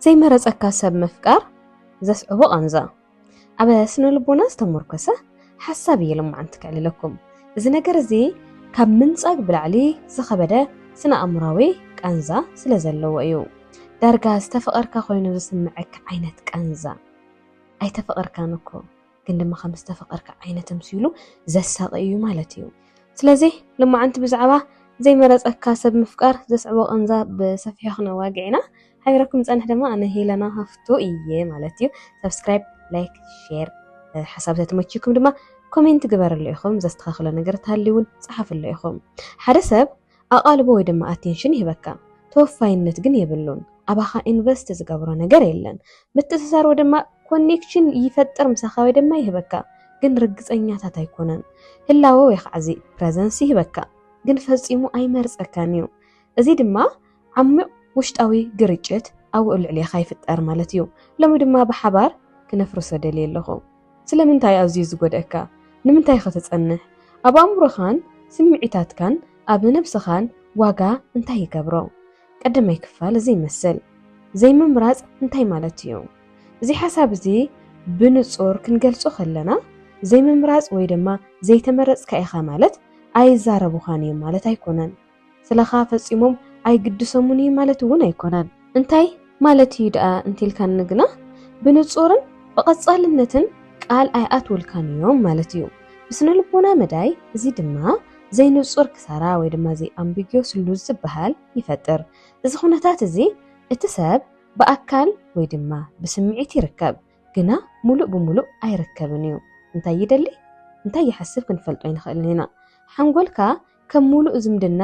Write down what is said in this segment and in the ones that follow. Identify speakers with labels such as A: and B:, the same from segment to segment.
A: ዘይመረጸካ ሰብ ምፍቃር ዘስዕቦ ቃንዛ ኣብ ስነ ልቦና ዝተመርኮሰ ሓሳብ እየ ልማዓንቲ ክዕልለኩም እዚ ነገር እዚ ካብ ምንጻግ ብላዕሊ ዝኸበደ ስነ ኣእምራዊ ቃንዛ ስለ ዘለዎ እዩ ዳርጋ ዝተፈቐርካ ኮይኑ ዝስምዐካ ዓይነት ቃንዛ ኣይተፈቐርካን እኮ ግን ድማ ከም ዝተፈቐርካ ዓይነት ተምሲሉ ዘሳቒ እዩ ማለት እዩ። ስለዚ ልማዓንቲ ብዛዕባ ዘይመረጸካ ሰብ ምፍቃር ዘስዕቦ ቐንዛ ብሰፊሑ ክነዋግዕ ኢና። ሓቢረኩም ዝጸንሕ ድማ ኣነ ሄለና ሃፍቱ እየ ማለት እዩ። ሰብስክራይብ ላይክ ሼር ሓሳብ ተተመችዩኩም ድማ ኮሜንት ግበርሉ ኢኹም፣ ዘስተኻኽሎ ነገር ተሃልዩ እውን ጸሓፍሉ ኢኹም። ሓደ ሰብ ኣቓልቦ ወይ ድማ ኣቴንሽን ይህበካ ተወፋይነት ግን የብሉን ኣባኻ ኢንቨስት ዝገብሮ ነገር የለን ምትእስሳር ወይ ድማ ኮኔክሽን ይፈጥር ምሳኻ ወይ ድማ ይህበካ ግን ርግጸኛታት ኣይኮነን ህላወ ወይ ከዓ እዚ ፕረዘንስ ይህበካ ግን ፈጺሙ ኣይመርጸካን እዩ እዚ ድማ ዓሚቕ ውሽጣዊ ግርጭት ኣብኡ ልዕሌኻ ይፍጠር ማለት እዩ ሎሚ ድማ ብሓባር ክነፍርሶ ደልየ ኣለኹ ስለምንታይ ኣዝዩ ዝጎድኣካ? ንምንታይኸ ትጸንሕ? ኣብ ኣእምሮኻን ስምዒታትካን ኣብ ነብስኻን ዋጋ እንታይ ይገብሮ? ቀዳማይ ክፋል እዚ ይመስል። ዘይምምራጽ እንታይ ማለት እዩ? እዚ ሓሳብ እዚ ብንጹር ክንገልጾ ከለና ዘይምምራጽ ወይ ድማ ዘይተመረጽካ ኢኻ ማለት ኣይዛረቡኻን እዮም ማለት ኣይኮነን። ስለኻ ፈጺሞም ኣይግድሰሙን እዩ ማለት እውን ኣይኮነን። እንታይ ማለት እዩ ደኣ እንቲልካኒ ግና ብንጹርን ብቐጻልነትን ቃል ኣይኣትውልካን እዮም ማለት እዩ። ብስነልቦና መዳይ እዚ ድማ ዘይንጹር ክሳራ ወይ ድማ ዘይ ኣምቢግዮስ ሉዝ ዝበሃል ይፈጥር። እዚ ኩነታት እዚ እቲ ሰብ ብኣካል ወይ ድማ ብስምዒት ይርከብ ግና ምሉእ ብምሉእ ኣይርከብን እዩ። እንታይ ይደሊ እንታይ ይሓስብ ክንፈልጦ ኣይንኽእልን ኢና። ሓንጎልካ ከም ሙሉእ ዝምድና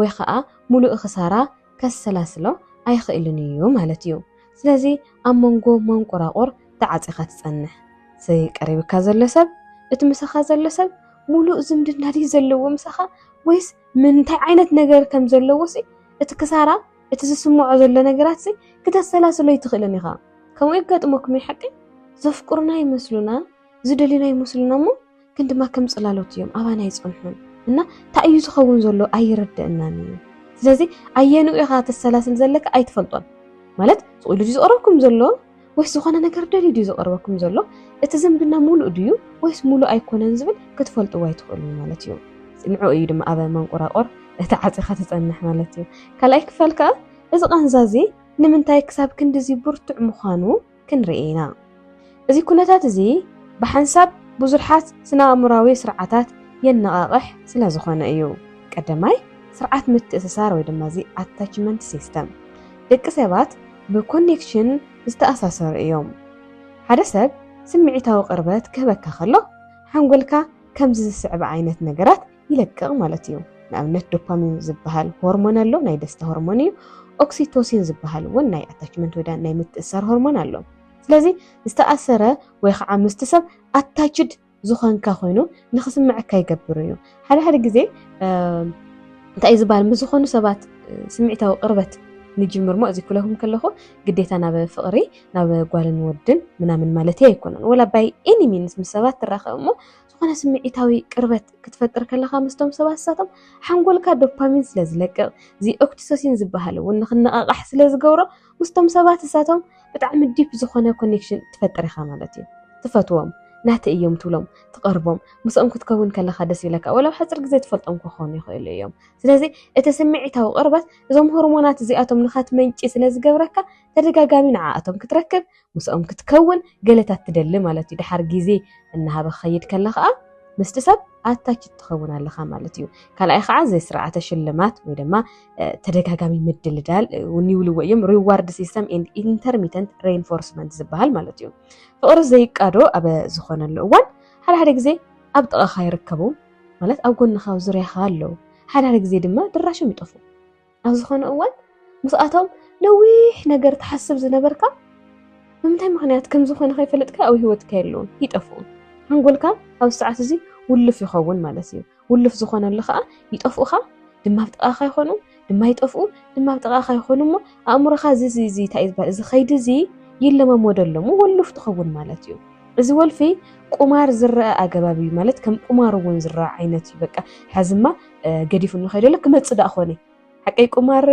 A: ወይ ኸኣ ሙሉእ ኽሳራ ከሰላስሎ ኣይኽእልን እዩ ማለት እዩ። ስለዚ ኣብ መንጎ መንቁራቑር ተዓጺኻ ትጸንሕ። እዚ ቀሪብካ ዘሎ ሰብ፣ እቲ ምሳኻ ዘሎ ሰብ ሙሉእ ዝምድና ድዩ ዘለዎ ምሳኻ ወይስ ምንታይ ዓይነት ነገር ከም ዘለዎሲ እቲ ክሳራ እቲ ዝስምዖ ዘሎ ነገራትሲ ክተሰላስሎ ኣይትኽእልን ኢኻ። ከምኡ የጋጥመኩም እዩ ሓቀይ? ዘፍቅሩና ይመስሉና፣ ዝደልዩና ይመስሉና እሞ ግን ድማ ከም ጽላሎት እዮም ኣባና ኣይጸንሑን እና እንታይ እዩ ዝኸውን ዘሎ ኣይርድእናን እዩ ስለዚ ኣየንኡ ኢኻ ተሰላስል ዘለካ ኣይትፈልጦን ማለት ስቑኢሉ ድዩ ዝቐርበኩም ዘሎ ወይስ ዝኾነ ነገር ደልዩ ድዩ ዝቐርበኩም ዘሎ እቲ ዝምድና ሙሉእ ድዩ ወይስ ሙሉእ ኣይኮነን ዝብል ክትፈልጥዎ ኣይትኽእሉን ማለት እዩ ንዕኡ እዩ ድማ ኣብ መንቆራቆር እቲ ዓፂኻ ትፀንሕ ማለት እዩ። ካልኣይ ክፋል ከዓ እዚ ቃንዛ እዚ ንምንታይ ክሳብ ክንድዚ ብርቱዕ ምዃኑ ክንርኢ ኢና። እዚ ኩነታት እዚ ብሓንሳብ ብዙርሓት ስነ-ኣእምሮኣዊ ስርዓታት የነቓቕሕ ስለ ዝኾነ እዩ። ቀደማይ፣ ስርዓት ምትእስሳር ወይ ድማ እዚ ኣታችመንት ሲስተም፣ ደቂ ሰባት ብኮኔክሽን ዝተኣሳሰሩ እዮም። ሓደ ሰብ ስምዒታዊ ቅርበት ክህበካ ከሎ ሓንጎልካ ከምዚ ዝስዕብ ዓይነት ነገራት ይለቅቕ ማለት እዩ። ንኣብነት ዶፓሚን ዝበሃል ሆርሞን ኣሎ፣ ናይ ደስታ ሆርሞን እዩ። ኦክሲቶሲን ዝበሃል እውን ናይ ኣታችመንት ወይ ናይ ምትእሳር ሆርሞን ኣሎ። ስለዚ ዝተኣሰረ ወይ ከዓ ምስቲ ሰብ ኣታችድ ዝኾንካ ኮይኑ ንክስምዐካ ይገብር እዩ። ሓደ ሓደ ግዜ እንታይ እዩ ዝበሃል ምስ ዝኾኑ ሰባት ስምዒታዊ ቅርበት ንጅምር ሞ እዚ ክብለኩም ከለኹ ግዴታ ናብ ፍቕሪ ናብ ጓልን ወድን ምናምን ማለት ኣይኮነን ወላ ባይ ኤኒ ሚንስ ምስ ሰባት ትራኸብ እሞ ዝኾነ ስምዒታዊ ቅርበት ክትፈጥር ከለኻ ምስቶም ሰባት ንሳቶም ሓንጎልካ ዶፓሚን ስለ ዝለቅቕ እዚ ኦክሲቶሲን ዝበሃል እውን ንክነቓቓሕ ስለ ዝገብሮ ምስቶም ሰባት ንሳቶም ብጣዕሚ ዲፕ ዝኾነ ኮኔክሽን ትፈጥር ኢኻ ማለት እዩ ትፈትዎም ናተ እዮም ትብሎም ትቐርቦም ምስኦም ክትከውን ከለኻ ደስ ይብለካ ወላ ኣብ ሓፂር ግዜ ትፈልጦም ክኾኑ ይኽእሉ እዮም ስለዚ እቲ ስምዒታዊ ቅርበት እዞም ሆርሞናት እዚኣቶም ንኸትመንጪ ስለ ዝገብረካ ተደጋጋሚ ንዓኣቶም ክትረክብ ምስኦም ክትከውን ገለታት ትደሊ ማለት እዩ። ድሓር ግዜ እናሃበ ክኸይድ ከላ ከኣ ምስቲ ሰብ ኣታችት ትኸውን ኣለኻ ማለት እዩ። ካልኣይ ከኣ እዚ ስርዓተ ሽልማት ወይ ድማ ተደጋጋሚ ምድልዳል እውን ይብልዎ እዮም ሪዋርድ ሲስተም ኤንድ ኢንተርሚተንት ሬንፎርስመንት ዝበሃል ማለት እዩ። ፍቕሪ ዘይቃዶ ኣብ ዝኾነሉ እዋን ሓደ ሓደ ግዜ ኣብ ጥቓኻ ይርከቡ ማለት ኣብ ጎንኻ ኣብ ዙርያኻ ኣለዉ ሓደ ሓደ ግዜ ድማ ድራሾም ይጠፍኡ። ኣብ ዝኾነ እዋን ምስኣቶም ነዊሕ ነገር ትሓስብ ዝነበርካ ብምንታይ ምኽንያት ከም ዝኾነ ከይፈለጥካ ኣብ ህይወትካ የለውን ይጠፍኡ ሓንጎልካ ኣብ ሰዓት እዚ ውልፍ ይኸውን ማለት እዩ ውልፍ ዝኾነሉ ከዓ ይጠፍኡኻ ድማ ኣብ ጥቓኻ ይኾኑ ድማ ይጠፍኡ ድማ ኣብ ጥቓኻ ይኾኑ እሞ ኣእምሮኻ እዚ እዚ እዚ እንታይ እዩ ዝበሃል እዚ ከይዲ እዚ ይለማመደሎ እሞ ወሉፍ ትኸውን ማለት እዩ እዚ ወልፊ ቁማር ዝረአ ኣገባብ እዩ ማለት ከም ቁማር እውን ዝረአ ዓይነት እዩ በቃ ሕዝማ ገዲፉኒ ከይደ ኣሎ ክመፅእ ዳኣ ኮነ ሓቀይ ቁማር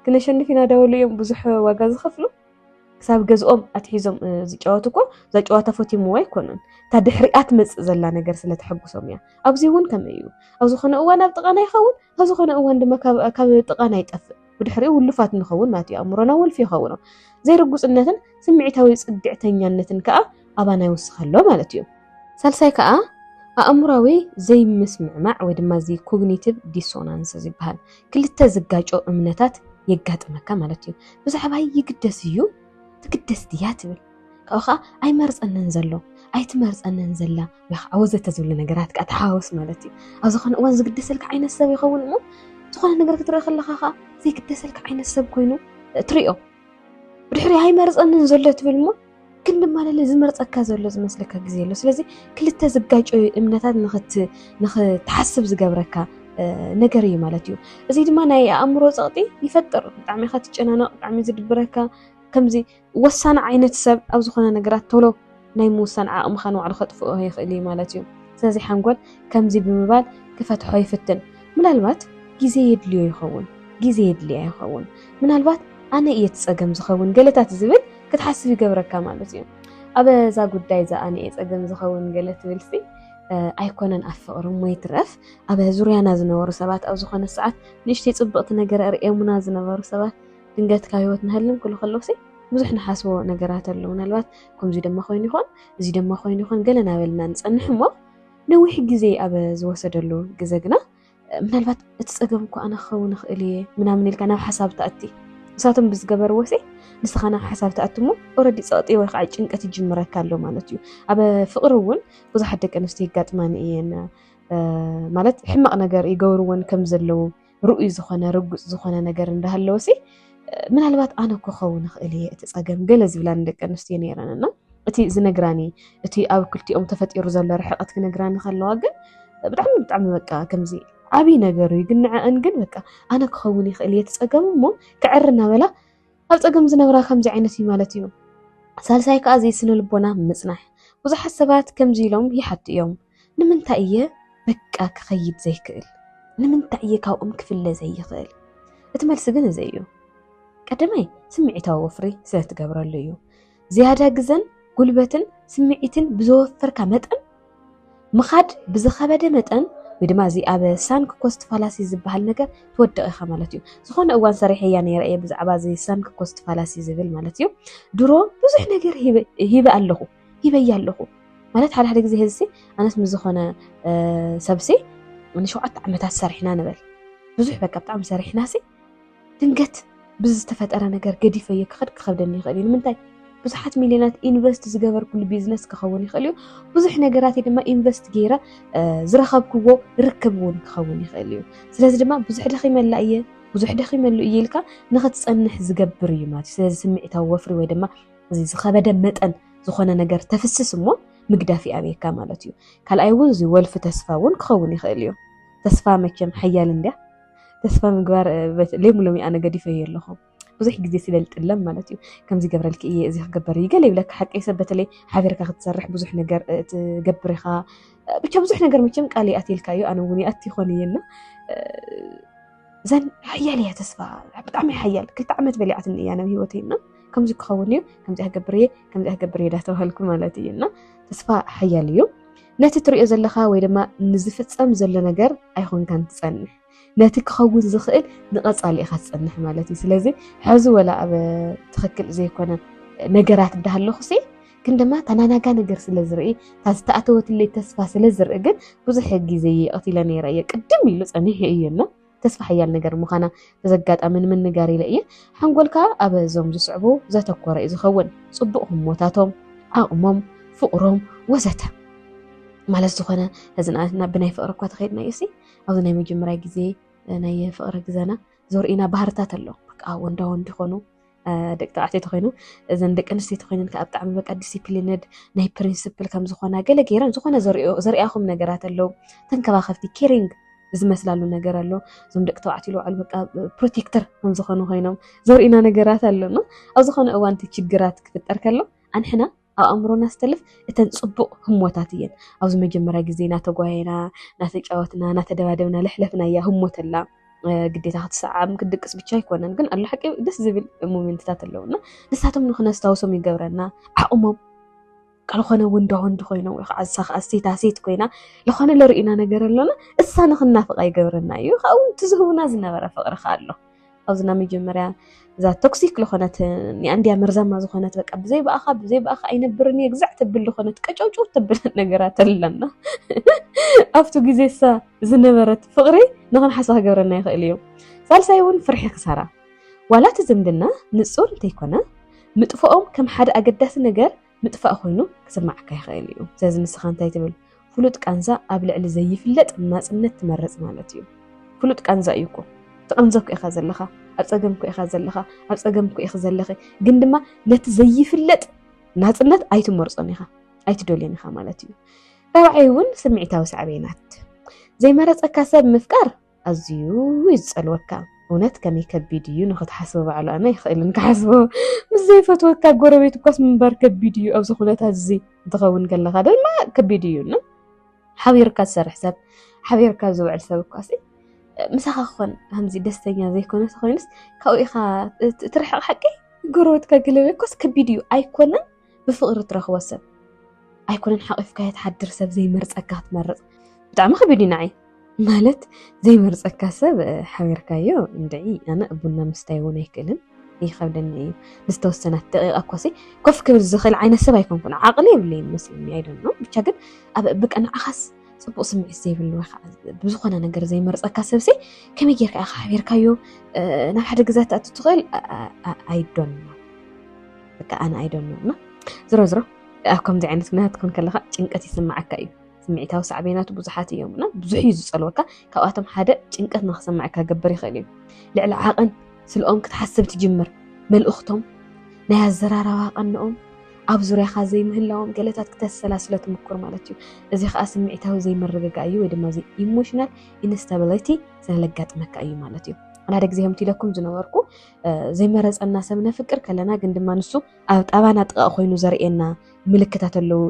A: ክነሸንፍ ኢና ዳበሉ እዮም ብዙሕ ዋጋ ዝኸፍሉ ክሳብ ገዝኦም ኣትሒዞም ዝጫወቱ እኮ እዛ ጨዋታ ፈትምዎ ኣይኮኑን እታ ድሕሪኣ ትመፅእ ዘላ ነገር ስለተሐጉሶም እያ ኣብዚ እውን ከምኡ እዩ ኣብ ዝኾነ እዋን ኣብ ጥቓና ይኸውን ኣብ ዝኾነ እዋን ድማ ካብ ጥቓና ይጠፍእ ብድሕሪኡ ውሉፋት ንኸውን ናቱ ኣእምሮና ወልፊ ይኸውኖ። ዘይርጉጽነትን ስምዒታዊ ጽግዕተኛነትን ከኣ ኣባና ይውስኸሎ ማለት እዩ። ሳልሳይ ከኣ ኣእምሮዊ ዘይምስምዕማዕ ወይ ድማ እዚ ኮግኒቲቭ ዲሶናንስ ዝበሃል ክልተ ዝጋጮ እምነታት የጋጥመካ ማለት እዩ። ብዛዕባይ ይግደስ እዩ ትግደስ ድያ ትብል ካብኡ ከዓ ኣይመርፀንን ዘሎ ኣይትመርፀንን ዘላ ያኽ ወዘተ ዝብሉ ነገራት ከዓ ተሓዋወስ ማለት እዩ ኣብ ዝኾነ እዋን ዝግደሰልካ ዓይነት ሰብ ይኸውን እሞ ዝኾነ ነገር ክትርኢ ከለካ ከዓ ዘይግደሰልካ ዓይነት ሰብ ኮይኑ ትሪኦ ብድሕሪ ኣይመርፀንን ዘሎ ትብል እሞ ግን ድማ ለለ ዝመርፀካ ዘሎ ዝመስለካ ግዜ ኣሎ ስለዚ ክልተ ዝጋጨዩ እምነታት ንክትሓስብ ዝገብረካ ነገር እዩ ማለት እዩ እዚ ድማ ናይ ኣእምሮ ፀቕጢ ይፈጥር ብጣዕሚ ኢካ ትጨናነቕ ብጣዕሚ ዝድብረካ ከምዚ ወሳኒ ዓይነት ሰብ ኣብ ዝኾነ ነገራት ቶሎ ናይ ምውሳን ዓቕምኻ ንባዕሉ ከጥፍኦ ይኽእል እዩ ማለት እዩ። ስለዚ ሓንጎል ከምዚ ብምባል ክፈትሖ ይፍትን፣ ምናልባት ግዜ የድልዮ ይኸውን፣ ግዜ የድልያ ይኸውን፣ ምናልባት ኣነ እየ እቲ ጸገም ዝኸውን ገለታት ዝብል ክትሓስብ ይገብረካ ማለት እዩ። ኣብ እዛ ጉዳይ እዛ ኣነ እየ ጸገም ዝኸውን ገለ ትብልሲ ኣይኮነን ኣብ ፍቕሪ እሞ ይትረፍ ኣብ ዙርያና ዝነበሩ ሰባት ኣብ ዝኾነ ሰዓት ንእሽተይ ጽብቕቲ ነገር እርእየሙና ዝነበሩ ሰባት ድንገት ካብ ህይወት ንሃልም ክሉ ከለውሲ ብዙሕ ንሓስቦ ነገራት ኣሎ ምናልባት ከምዚ ደማ ኮይኑ ይኾን እዚ ደማ ኮይኑ ይኾን ገለ ናበልና ንፀንሕ እሞ ነዊሕ ግዜ ኣብ ዝወሰደሉ ግዘ ግና ምናልባት እቲ ፀገም እኳ ኣነ ክኸውን ይኽእል እየ ምናምን ኢልካ ናብ ሓሳብ ትኣቲ ንሳቶም ብዝገበርዎ ሲ ንስኻ ናብ ሓሳብ ትኣቲ እሞ ኦረዲ ፀቕጢ ወይ ከዓ ጭንቀት ይጅምረካ ኣሎ ማለት እዩ ኣብ ፍቕሪ እውን ብዙሓት ደቂ ኣንስትዮ ይጋጥማኒ እየን ማለት ሕማቕ ነገር ይገብርዎን ከም ዘለዉ ርኡይ ዝኾነ ርጉፅ ዝኾነ ነገር እንዳሃለወሲ ምናልባት ኣነ እኮ ኸውን እኽእል እየ እቲ ፀገም ገለ ዝብላኒ ደቂ ኣንስትዮ ነይረን እና እቲ ዝነግራኒ እቲ ኣብ ክልቲኦም ተፈጢሩ ዘሎ ርሕቐት ክነግራኒ ከለዋ ግን ብጣዕሚ ብጣዕሚ በቃ ከምዚ ዓብይ ነገር እዩ ግን ንዐአን ግን በቃ ኣነ ክኸውን ይኽእል እየ እቲ ፀገም እሞ ክዕር እናበላ ኣብ ፀገም ዝነብራ ከምዚ ዓይነት እዩ ማለት እዩ ሳልሳይ ከዓ ዘይስነ ልቦና ምፅናሕ ብዙሓት ሰባት ከምዚ ኢሎም ይሓቱ እዮም ንምንታይ እየ በቃ ክኸይድ ዘይክእል? ንምንታይ እየ ካብኦም ክፍለ ዘይኽእል? እቲ መልሲ ግን እዚ እዩ። ቀዳማይ ስምዒታዊ ወፍሪ ስለ ትገብረሉ እዩ። ዝያዳ ግዘን ጉልበትን ስምዒትን ብዘወፈርካ መጠን ምኻድ ብዝኸበደ መጠን ወይ ድማ እዚ ኣብ ሳንክ ኮስት ፋላሲ ዝበሃል ነገር ትወድቕ ኢኻ ማለት እዩ ዝኾነ እዋን ሰሪሐያ ነይረ እየ ብዛዕባ እዚ ሳንክ ኮስት ፋላሲ ዝብል ማለት እዩ ድሮ ብዙሕ ነገር ሂበ ኣለኹ ሂበያ ኣለኹ ማለት ሓደ ሓደ ግዜ ህዝሲ ኣነስ ምስ ዝኾነ ሰብሲ ንሸውዓተ ዓመታት ሰሪሕና ንበል ብዙሕ በቃ ብጣዕሚ ሰሪሕናሲ ድንገት ብዝተፈጠረ ነገር ገዲፈዮ ክኸድ ክኸብደኒ ይኽእል እዩ ንምንታይ ብዙሓት ሚልዮናት ኢንቨስት ዝገበርኩሉ ቢዝነስ ክኸውን ይኽእል እዩ ብዙሕ ነገራት ድማ ኢንቨስት ገይረ ዝረኸብክዎ ርክብ እውን ክኸውን ይኽእል እዩ ስለዚ ድማ ብዙሕ ደኺመላ እየ ብዙሕ ደኺመሉ እየ ኢልካ ንኽትፀንሕ ዝገብር እዩ ማለት እዩ ስለዚ ስምዒታዊ ወፍሪ ወይ ድማ እዚ ዝኸበደ መጠን ዝኾነ ነገር ተፍስስ እሞ ምግዳፍ ይኣብየካ ማለት እዩ። ካልኣይ እውን እዚ ወልፊ ተስፋ እውን ክኸውን ይኽእል እዩ። ተስፋ መቸም ሓያል እንድያ ተስፋ ምግባር ሌሙ ሎሚ ኣነ ገዲፈዮ ኣለኹ ብዙሕ ግዜ ስለ ዝጥለም ማለት እዩ ከምዚ ገብረልኪ እየ እዚ ክገበር እዩ ገለ ይብለካ ሓቂ ሰብ በተለይ ሓቢርካ ክትሰርሕ ብዙሕ ነገር ትገብር ኢኻ ብቻ ብዙሕ ነገር መቸም ቃል ይኣትልካ እዩ ኣነ እውን ይኣት ይኾን እየና ዘን ሓያል እያ ተስፋ ብጣዕሚ ሓያል ክልተ ዓመት በሊዓትኒ እያ ናብ ሂወተይ እና ከምዚ ክኸውን እዩ ከምዚ ክገብር እየ ከምዚ ክገብር እየ ዳተባሃልኩ ማለት እዩ እና ተስፋ ሓያል እዩ ነቲ ትሪኦ ዘለካ ወይ ድማ ንዝፍፀም ዘሎ ነገር ኣይኮንካን ትፀንሕ ነቲ ክኸውን ዝኽእል ንቐፃሊ ኢኻ ትፀንሕ ማለት እዩ ስለዚ ሕዚ ወላ ኣብ ትኽክል ዘይኮነ ነገራት እንዳሃለኹ ሲ ግን ድማ ተናናጋ ነገር ስለ ዝርኢ እታ ዝተኣተወትለይ ተስፋ ስለ ዝርኢ ግን ብዙሕ ግዜ እየ ቀቲለ ነይረ እየ ቅድም ኢሉ ፀኒሑ እዩ እሞ ተስፋ ሓያል ነገር ምዃና በዚ ኣጋጣሚ ንምንጋር ኢለ እየ ሓንጎልካ ኣብ እዞም ዝስዕቡ ዘተኮረ እዩ ዝኸውን ፅቡቕ ህሞታቶም ዓቕሞም ፍቕሮም ወዘተ ማለት ዝኾነ እዚ ንኣብነት ናብ ብናይ ፍቕሪ እኳ ተኸይድና እዩ ሲ ኣብዚ ናይ መጀመርያ ግዜ ናይ ፍቕሪ ግዘና ዘርእዩና ባህርታት ኣሎ በቃ ወንዳ ወንድ ይኾኑ ደቂ ተባዕትዮ ተኮይኑ እዘን ደቂ ኣንስትዮ ተኮይነን ከዓ ብጣዕሚ በቃ ዲሲፕሊንድ ናይ ፕሪንስፕል ከም ዝኮና ገለ ገይረን ዝኮነ ዘሪኣኹም ነገራት ኣለው ተንከባኸብቲ ኬሪንግ ዝመስላሉ ነገር ኣሎ እዞም ደቂ ተባዕትዮ ልባዕሉ በቃ ፕሮቴክተር ከም ዝኮኑ ኮይኖም ዘርእና ነገራት ኣሎና ኣብ ዝኮነ እዋን እቲ ችግራት ክፍጠር ከሎ ኣንሕና ኣብ ኣእምሮና ዝተልፍ እተን ፅቡቕ ህሞታት እየን ኣብዚ መጀመርያ ግዜ እናተጓየና እናተጫወትና እናተደባደብና ለሕለፍናያ ህሞት ኣላ ግዴታ ክትሰዓም ክትድቅስ ብቻ ኣይኮነን ግን ኣሎ ሓቂ ደስ ዝብል ሞሜንትታት ኣለውና ንሳቶም ንክነስታውሶም ይገብረና ዓቕሞም ቃል ኾነ ወንዳ ወንዲ ኮይኖም ወይ ከዓ እሳ ከዓ ሴታ ሴት ኮይና ዝኾነ ለርእና ነገር ኣሎና እሳ ንክናፍቃ ይገብረና እዩ ካብኡ እቲ ዝህቡና ዝነበረ ፍቅሪ ከዓ ኣሎ ኣብዚ ናብ መጀመርያ እዛ ቶክሲክ ዝኾነት ንኣንድያ መርዛማ ዝኾነት በቃ ብዘይ ብኣኻ ብዘይ ብኣኻ ኣይነብርን እየ ግዛዕ ተብል ዝኾነት ቀጨውጭው ተብል ነገራት ኣለና ኣብቲ ግዜሳ ዝነበረት ፍቕሪ ንኽንሓሳ ክገብረና ይኽእል እዩ ሳልሳይ እውን ፍርሒ ክሳራ ዋላ እቲ ዝምድና ንፁር እንተይኮነ ምጥፍኦም ከም ሓደ ኣገዳሲ ነገር ምጥፋእ ኮይኑ ክስማዓካ ይኽእል እዩ። ስለዚ ንስኻ እንታይ ትብል? ፍሉጥ ቃንዛ ኣብ ልዕሊ ዘይፍለጥ ናጽነት ትመርጽ ማለት እዩ። ፍሉጥ ቃንዛ እዩ እኮ ትቕንዘ እኮ ኢኻ ዘለኻ፣ ኣብ ጸገም እኮ ኢኻ ዘለኻ፣ ኣብ ጸገም እኮ ኢኺ ዘለኺ፣ ግን ድማ ነቲ ዘይፍለጥ ናጽነት ኣይትመርጾን ኢኻ፣ ኣይትደልዮን ኢኻ ማለት እዩ። ራብዓይ እውን ስምዒታዊ ሳዕቤናት ዘይመረጸካ ሰብ ምፍቃር ኣዝዩ እዩ ዝጸልወካ እውነት ከመይ ከቢድ እዩ ንክትሓስቦ ባዕሉ ኣነ ይኽእልን ክሓስቦ ምስ ዘይፈትወካ ጎረቤት እኳስ ምንባር ከቢድ እዩ ኣብዚ ኩነታት እዚ እንትኸውን ከለካ ድማ ከቢድ እዩ ን ሓቢርካ ዝሰርሕ ሰብ ሓቢርካ ዝውዕል ሰብ እኳሲ ምሳኻ ክኾን ከምዚ ደስተኛ ዘይኮነ ተኮይኑስ ካብኡ ኢኻ ትርሕቕ ሓቂ ጎረቤትካ ገለ ኮስ ከቢድ እዩ ኣይኮነን ብፍቅሪ ትረክቦ ሰብ ኣይኮነን ሓቂፍካዮ ትሓድር ሰብ ዘይመርፀካ ትመርፅ ብጣዕሚ ከቢድ እዩ ንዓይ ማለት ዘይመርፀካ ሰብ ሓቢርካዮ እንድዒ ኣነ ቡና ምስታይ እውን ኣይክእልን ይከብደኒ እዩ ንዝተወሰናት ደቂቃ ኮሲ ኮፍ ክብል ዝኽእል ዓይነት ሰብ ኣይኮንኩን ዓቅሊ የብለይ መስለኒ ኣይደኖ ብቻ ግን ኣብ ብቀ ንዓኻስ ፅቡቅ ስምዒት ዘይብሉ ወይ ከዓ ብዝኾነ ነገር ዘይመርፀካ ሰብሲ ከመይ ጌርካ ኢኻ ሓቢርካዮ ናብ ሓደ ግዛ ትኣቱ ትኽእል ኣይዶን በቃ ኣነ ኣይደኖ እና ዝሮ ዝሮ ኣብ ከምዚ ዓይነት ኩነታት ክን ከለካ ጭንቀት ይስማዓካ እዩ ስምዒታዊ ሳዕቤናቱ ብዙሓት እዮም እና ብዙሕ እዩ ዝፀልወካ ካብኣቶም ሓደ ጭንቀት ንክሰማዕካ ገበር ይኽእል እዩ ልዕሊ ዓቕን ስልኦም ክትሓስብ ትጅምር መልእኽቶም ናይ ኣዘራራባ ቀንኦም ኣብ ዙርያኻ ዘይምህላዎም ገለታት ክተሰላስሎ ትምኩር ማለት እዩ እዚ ከዓ ስምዒታዊ ዘይምርግጋ እዩ ወይ ድማ ኢሞሽናል ኢንስታቢሊቲ ስለለጋጥመካ እዩ ማለት እዩ ሓደ ግዜ ከምቲ ኢለኩም ዝነበርኩ ዘይመረፀና ሰብ ነፍቅር ከለና ግን ድማ ንሱ ኣብ ጣባና ጥቓ ኮይኑ ዘርእየና ምልክታት ኣለዉ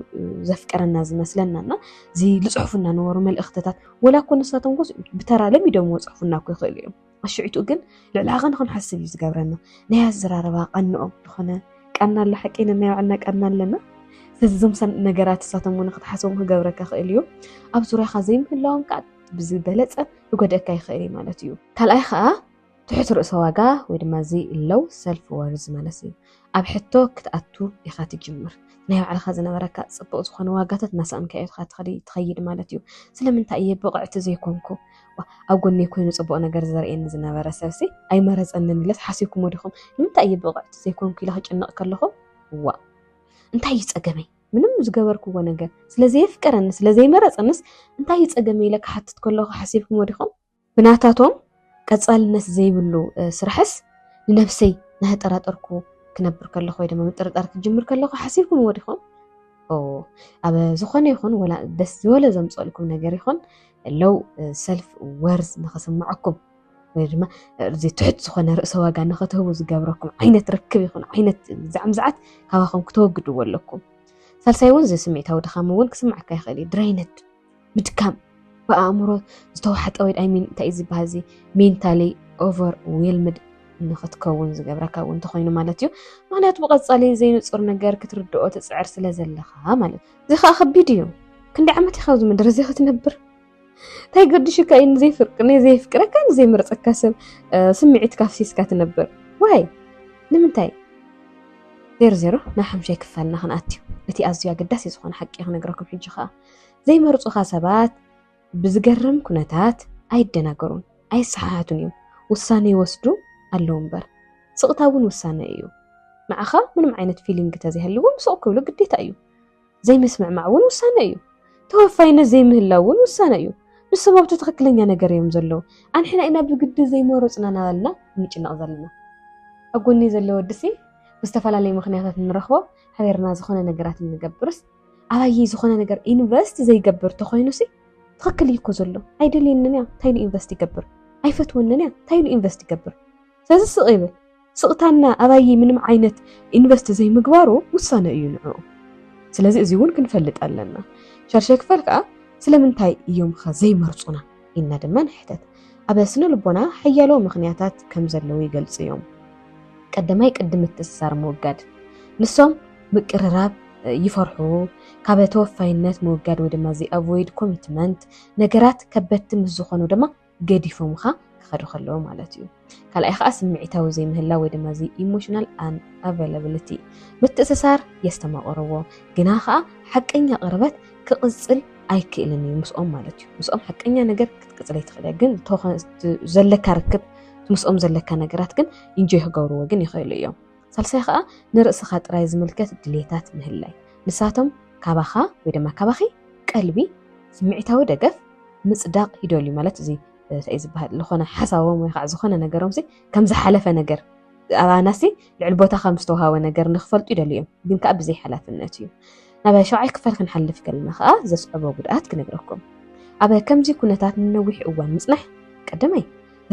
A: ዘፍቀረና ዝመስለና እና እዚ ዝፅሑፉ እናነበሩ መልእኽትታት ወላ እኮ ንሳቶም ጎስ ብተራ ለሚዶም ወፅሑፉና እኮ ይኽእሉ እዮም ኣሽዒቱ ግን ልዕሊ ዓቐ ንክንሓስብ እዩ ዝገብረና ናይ ኣዘራረባ ቃንኦም ዝኾነ ቃና ኣሎ ሓቂ ነናይ ባዕልና ቃና ኣለና ስለዚ እዞም ነገራት እሳቶም እውን ክትሓስቦም ክገብረካ ክእል እዩ ኣብ ዙርያኻ ዘይምህላዎም ከዓ ብዝበለፀ ክጎድአካ ይኽእል እዩ ማለት እዩ ካልኣይ ከዓ ትሑት ርእሰ ዋጋ ወይ ድማ እዚ ሎው ሰልፍ ወርዝ ማለት እዩ ኣብ ሕቶ ክትኣቱ ኢኻ ትጅምር ናይ ባዕልኻ ዝነበረካ ፅቡቕ ዝኾነ ዋጋታት እናሰኣንካ ኢኻ ትኸይድ ማለት እዩ ስለምንታይ እየ ብቕዕቲ ዘይኮንኩ ኣብ ጎነይ ኮይኑ ፅቡቕ ነገር ዘርእየኒ ዝነበረ ሰብሲ ኣይመረፀንን ኢለስ ሓሲብኩሞ ዲኹም ንምንታይ እየ ብቕዕቲ ዘይኮንኩ ኢለ ክጭነቕ ከለኹ ዋ እንታይ እዩ ፀገመይ ምንም ዝገበርክዎ ነገር ስለዘየፍቀረኒ ስለዘይመረፀንስ እንታይ እዩ ፀገመይ ኢለ ክሓትት ከለኹ ሓሲብኩሞ ዲኹም ብናታቶም ቀጻልነት ዘይብሉ ስራሕስ ንነብሰይ ናህጠራጠርኩ ክነብር ከለኹ ወይ ድማ ምጥርጣር ክጅምር ከለኹ ሓሲብኩምዎ ዲኹም? ኣብ ዝኾነ ይኹን ወላ ደስ ዝበለ ዘምፀልኩም ነገር ይኹን ለው ሰልፍ ወርዝ ንክስምዐኩም ወይ ድማ እዚ ትሑት ዝኾነ ርእሰ ዋጋ ንክትህቡ ዝገብረኩም ዓይነት ርክብ ይኹን ዓይነት ዛዕምዝዓት ካባኹም ክተወግድዎ ኣለኩም። ሳልሳይ እውን እዚ ስምዒታዊ ድኻም እውን ክስምዓካ ይኽእል እዩ ድራይነድ ምድካም ብኣእምሮ ዝተዋሕጠ ወይ ኣይ ሚን እንታይ እዩ ዝበሃል እዚ ሜንታሊ ኦቨር ዌልምድ ንክትከውን ዝገብረካ እውን እንተኮይኑ ማለት እዩ ምክንያቱ ብቀፃሊ ዘይንፁር ነገር ክትርድኦ ትፅዕር ስለ ዘለካ ማለት እዩ እዚ ከዓ ከቢድ እዩ ክንዲ ዓመት ኢካ ኣብዚ ምድሪ እዚ ክትነብር እንታይ ገድሽካ እዩ ንዘይፍርቅ ንዘይፍቅረካ ንዘይምርፀካ ሰብ ስምዒት ካፍሲስካ ትነብር ዋይ ንምንታይ ዜሮ ዜሮ ናብ ሓምሻይ ክፋልና ክንኣትዩ እቲ ኣዝዩ ኣገዳሲ ዝኾነ ሓቂ ክነግረኩም ሕጂ ከዓ ዘይመርፁኻ ሰባት ብዝገርም ኩነታት ኣይደናገሩን ኣይሰሓሓቱን እዮም ውሳነ ይወስዱ ኣለዉ እምበር ስቕታ እውን ውሳነ እዩ ንዓኻ ምንም ዓይነት ፊሊንግ ተዘይሃልዎም ስቕ ክብሉ ግዴታ እዩ ዘይምስምዕማዕ እውን ውሳነ እዩ ተወፋይነት ዘይምህላው እውን ውሳነ እዩ ንሶም ኣብቲ ትኽክለኛ ነገር እዮም ዘለዉ ኣንሕና ኢና ብግዲ ዘይመረፅና ናበልና ንጭነቕ ዘለና ኣብ ጎኒ ዘሎ ወድሲ ብዝተፈላለዩ ምክንያታት ንረኽቦ ሓቢርና ዝኾነ ነገራት እንገብርስ ኣባየይ ዝኾነ ነገር ኢንቨስት ዘይገብር ተኾይኑሲ ትኽክል እዩ እኮ ዘሎ ኣይደልየንን እያ እንታይ ኢሉ ኢንቨስት ይገብር ኣይፈትወንን እያ እንታይ ኢሉ ኢንቨስት ይገብር ስለዚ ስቕ ይብል ስቕታና ኣባየይ ምንም ዓይነት ኢንቨስት ዘይምግባሩ ውሳነ እዩ ንዕኡ ስለዚ እዚ እውን ክንፈልጥ ኣለና ሸርሸ ክፈል ከዓ ስለምንታይ እዮም ኸ ዘይመርፁና ኢልና ድማ ንሕተት። ኣብ ስነ ልቦና ሓያሎ ምኽንያታት ከም ዘለዉ ይገልጹ እዮም። ቀዳማይ ቅዲ ምትእስሳር ምውጋድ። ንሶም ምቅርራብ ይፈርሑ፣ ካብ ተወፋይነት ምውጋድ ወይ ድማ ዚኣቮይድ ኮሚትመንት፣ ነገራት ከበድቲ ምስ ዝኾኑ ድማ ገዲፎምኻ ክኸዱ ከለዉ ማለት እዩ። ካልኣይ ከዓ ስምዒታዊ ዘይምህላው ወይ ድማ እዚ ኢሞሽናል ኣን ኣቫይላብሊቲ ምትእስሳር የስተማቕርዎ ግና ከዓ ሓቀኛ ቅርበት ክቕፅል ኣይክእልን እዩ ምስኦም ማለት እዩ ምስኦም ሓቀኛ ነገር ክትቅፅል ኣይትኽእል እያ ግን ዘለካ ርክብ ምስኦም ዘለካ ነገራት ግን ኢንጆይ ክገብርዎ ግን ይኽእሉ እዮም ሳልሳይ ከዓ ንርእስኻ ጥራይ ዝምልከት ድሌታት ምህላይ ንሳቶም ካባኻ ወይ ድማ ካባኺ ቀልቢ ስምዒታዊ ደገፍ ምፅዳቕ ይደልዩ ማለት እዚ እንታይ እዩ ዝበሃል ዝኾነ ሓሳቦም ወይ ከዓ ዝኾነ ነገሮም ከም ዝሓለፈ ነገር ኣባና ሲ ልዕሊ ቦታ ከም ዝተውሃበ ነገር ንክፈልጡ ይደልዩ እዮም ግን ከዓ ብዘይ ሓላፍነት እዩ ናብ ሸውዓይ ክፋል ክንሓልፍ ከለና ከዓ ዘስዕቦ ጉድኣት ክነግረኩም ኣብ ከምዚ ኩነታት ንነዊሕ እዋን ምፅናሕ ቀደመይ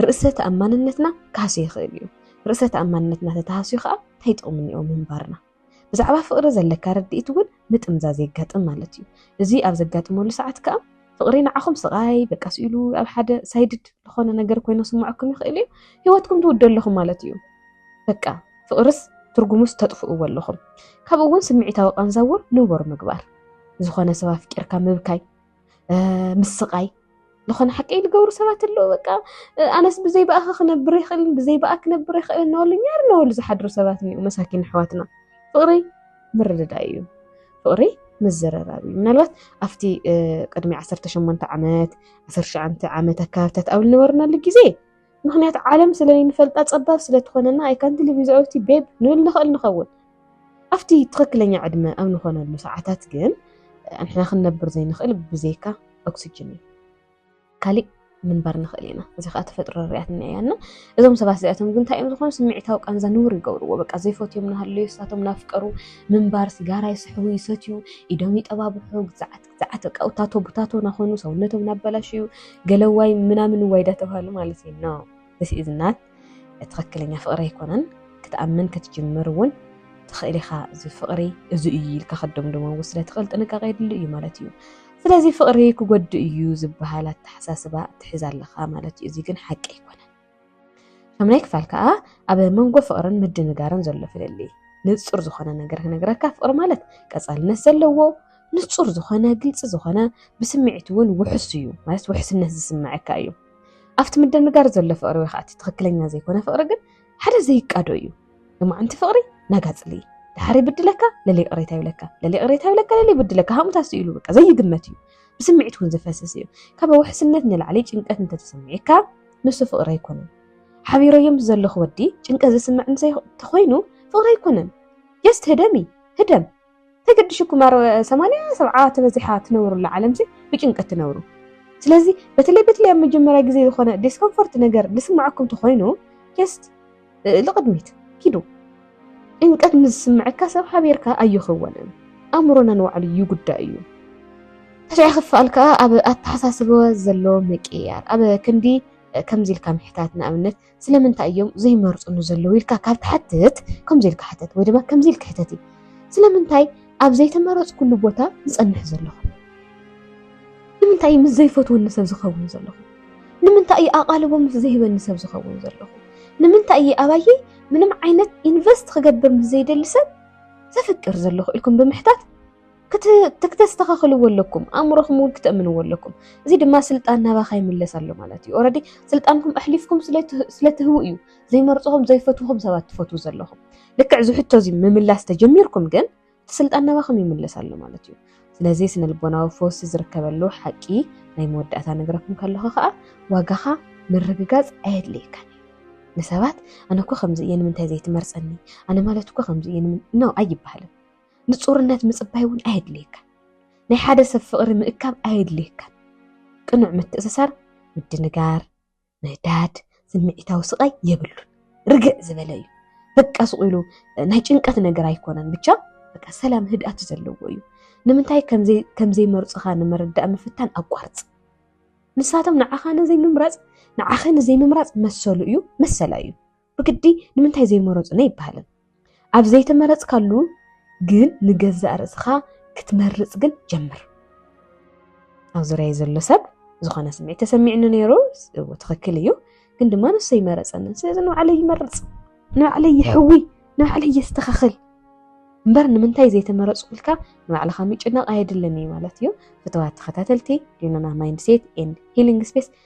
A: ርእሰ ተኣማንነትና ክሃስዮ ይኽእል እዩ ርእሰ ተኣማንነትና ተተሃስዩ ከዓ እንታይ ጥቕሚ እኒኦ ምንባርና ብዛዕባ ፍቕሪ ዘለካ ርድኢት እውን ምጥምዛዝ የጋጥም ማለት እዩ። እዚ ኣብ ዘጋጥመሉ ሰዓት ከኣ ፍቕሪ ንዓኹም ስቓይ በቃ ስኢሉ ኣብ ሓደ ሳይድድ ዝኾነ ነገር ኮይኑ ክስምዐኩም ይኽእል እዩ። ህይወትኩም ትውድኡ ኣለኹም ማለት እዩ። በቃ ፍቕርስ ትርጉሙስ ተጥፍእዎ ኣለኹም። ካብኡ እውን ስምዒታዊ ቃንዛ እውን ንቡር ምግባር። ዝኾነ ሰብ ኣፍቂርካ ምብካይ። ምስቃይ ዝኾነ ሓቂ ዝገብሩ ሰባት ኣለዉ በቃ ኣነስ ብዘይ ብኣኸ ክነብር ይኽእልን ብዘይ ብኣ ክነብር ይኽእልን እናበሉ ኛር እናበሉ ዝሓድሩ ሰባት እኒኡ መሳኪን ኣሕዋትና ፍቕሪ ምርድዳእ እዩ ፍቕሪ ምዝርራብ እዩ ምናልባት ኣብቲ ቅድሚ 18 ዓመት 19 ዓመት ኣካባብታት ኣብ ዝነበርናሉ ግዜ ምኽንያቱ ዓለም ስለ ዘይንፈልጣ ጸባብ ስለ ትኾነና ኣይ ካንት ሊቭ ዊዛውት ዩ ቤብ ንብል ንኽእል ንኸውን። ኣብቲ ትኽክለኛ ዕድመ ኣብ ንኾነሉ ሰዓታት ግን ንሕና ክንነብር ዘይንኽእል ብዘይካ ኦክስጅን እዩ። ካሊእ ምንባር ንኽእል ኢና። እዚ ከዓ ተፈጥሮ ርያትና እያ እና እዞም ሰባት እዚኣቶም ግን እንታይ እዮም ዝኾኑ ስምዒታዊ ቃንዛ ንቡር ይገብርዎ። በቃ ዘይፈትዮም ናሃለዩ ንሳቶም ናፍቀሩ ምንባር ሲጋራ ይስሕቡ ይሰትዩ ኢዶም ይጠባብሑ ግዛዓት ሰዓት በቃ ውታቶ ቡታቶ ናኾኑ ሰውነቶም ናበላሽዩ ገለዋይ ምናምን ዋይ ዳተባሃሉ ማለት እዩ ነው ዚስ ኢዝ ናት ትኽክለኛ ፍቕሪ ኣይኮነን ክትኣምን ክትጅምር እውን ትኽእል ኢኻ እዚ ፍቕሪ እዚ እዩ ኢልካ ከደምድሞ እውን ስለ ትኽእል ጥንቃቄ የድሊ እዩ ማለት እዩ ስለዚ ፍቕሪ ክጎድእ እዩ ዝበሃል ኣተሓሳስባ ትሕዝ ኣለኻ ማለት እዩ እዚ ግን ሓቂ ኣይኮነን ሻምናይ ክፋል ከዓ ኣብ መንጎ ፍቅርን ምድንጋርን ዘሎ ፍልልይ ንፁር ዝኾነ ነገር ክነግረካ ፍቅሪ ማለት ቀፃልነት ዘለዎ ንፁር ዝኾነ ግልፂ ዝኾነ ብስምዒት እውን ውሕስ እዩ ማለት ውሕስነት ዝስምዐካ እዩ ኣብቲ ምድንጋር ዘሎ ፍቅሪ ወይ ከዓ እቲ ትክክለኛ ዘይኮነ ፍቅሪ ግን ሓደ ዘይቃዶ እዩ ንማዓንቲ ፍቅሪ ናጋፅሊ ድሓር ይብድለካ ለለ ቅሬታ ይብለካ ለለ ቅሬታ ይብለካ ለለ ይብድለካ ሃሙታ ስኢሉ በቃ ዘይግመት እዩ ብስምዒት እውን ዝፈስስ እዩ ካብ ውሕስነት ንላዕሊ ጭንቀት እንተተሰሚዕካ ንሱ ፍቅሪ ኣይኮነን ሓቢረዮም ብዘለኹ ወዲ ጭንቀት ዝስምዕ እንተ ተኾይኑ ፍቅሪ ኣይኮነን ጀስት ህደሚ ህደም ተገድሽኩም ኣር ሰማንያ ሰብዓ ተበዚሓ ትነብሩላ ዓለም ሲ ብጭንቀት ትነብሩ ስለዚ በተለይ በተለይ ኣብ መጀመርያ ግዜ ዝኾነ ዲስኮምፎርት ነገር ዝስምዓኩም ተኾይኑ ጀስት ልቕድሚት ኪዱ። ጭንቀት ምስ ዝስምዐካ ሰብ ሓቢርካ ኣይኸወንን። ኣእምሮና ንባዕሉ ይጉዳእ እዩ። ታሽዐ ክፋል ከኣ ኣብ ኣተሓሳስበ ዘሎ ምቅይያር። ኣብ ክንዲ ከምዚ ኢልካ ምሕታት ንኣብነት ስለምንታይ እዮም ዘይመርጹኒ ዘለዉ ኢልካ ካብ ትሓትት ከምዚ ኢልካ ሕተት ወይ ድማ ከምዚ ኢልካ ሕተት እዩ ስለምንታይ ኣብ ዘይተመረጽኩሉ ቦታ ዝጸንሕ ዘለኹ ንምንታይ ምስ ዘይፈትወኒ ሰብ ዝኸውን ዘለኹ ንምንታይ እዩ ኣቓልቦ ምስ ዘይህበኒ ሰብ ዝኸውን ዘለኹ? ንምንታይ እየ ኣባየይ ምንም ዓይነት ኢንቨስት ክገብር ምስ ዘይደሊ ሰብ ዘፍቅር ዘለኹ ኢልኩም ብምሕታት ክተስተኻኽልዎ ኣለኩም ኣእምሮኹም እውን ክተእምንዎ ኣለኩም እዚ ድማ ስልጣን ናባኻ ይምለስ ኣሎ ማለት እዩ ኦረዲ ስልጣንኩም ኣሕሊፍኩም ስለትህቡ እዩ ዘይመርፅኹም ዘይፈትኹም ሰባት ትፈትዉ ዘለኹም ልክዕ ዝሕቶ እዚ ምምላስ ተጀሚርኩም ግን እቲ ስልጣን ናባኹም ይምለስ ኣሎ ማለት እዩ ስለዚ ስነ ልቦናዊ ፈውሲ ዝርከበሉ ሓቂ ናይ መወዳእታ ነገረኩም ከለኹ ከዓ ዋጋኻ ምርግጋፅ ኣየድልየካን ንሰባት ኣነ እኮ ከምዚ እየ ንምንታይ ዘይትመርፀኒ ኣነ ማለት እኮ ከምዚ እየ ነው ኣይበሃልን ንፁርነት ምፅባይ እውን ኣየድልየካን ናይ ሓደ ሰብ ፍቕሪ ምእካብ ኣየድልየካን ቅኑዕ ምትእስሳር ምድንጋር ንዳድ ስምዒታዊ ስቓይ የብሉን ርግዕ ዝበለ እዩ በቃ ስቑ ኢሉ ናይ ጭንቀት ነገር ኣይኮነን ብቻ በቃ ሰላም ህድኣት ዘለዎ እዩ ንምንታይ ከምዘይመርፁኻ ንምርዳእ ምፍታን ኣቋርፅ ንሳቶም ንዓኻ ንዘይምምራፅ ንዓኸ ንዘይምምራፅ መሰሉ እዩ መሰላ እዩ ብግዲ ንምንታይ ዘይመረፁና ኣይበሃልን። ኣብ ዘይተመረፅካሉ ግን ንገዛእ ርእስኻ ክትመርፅ ግን ጀምር። ኣብ ዙርያይ ዘሎ ሰብ ዝኾነ ስምዒት ተሰሚዕኒ ነይሩ ትኽክል እዩ፣ ግን ድማ ንሱ ኣይመረፀንን። ስለዚ ንባዕለይ ይመርፅ፣ ንባዕለይ ይሕዊ፣ ንባዕለይ የስተኻኽል እምበር ንምንታይ ዘይተመረፁ ክልካ ንባዕልኻ ምጭናቕ ኣየድልን እዩ ማለት እዩ። ፍትዋት ተኸታተልቲ ሊኖና ማይንድሴት ኤንድ ሂሊንግ ስፔስ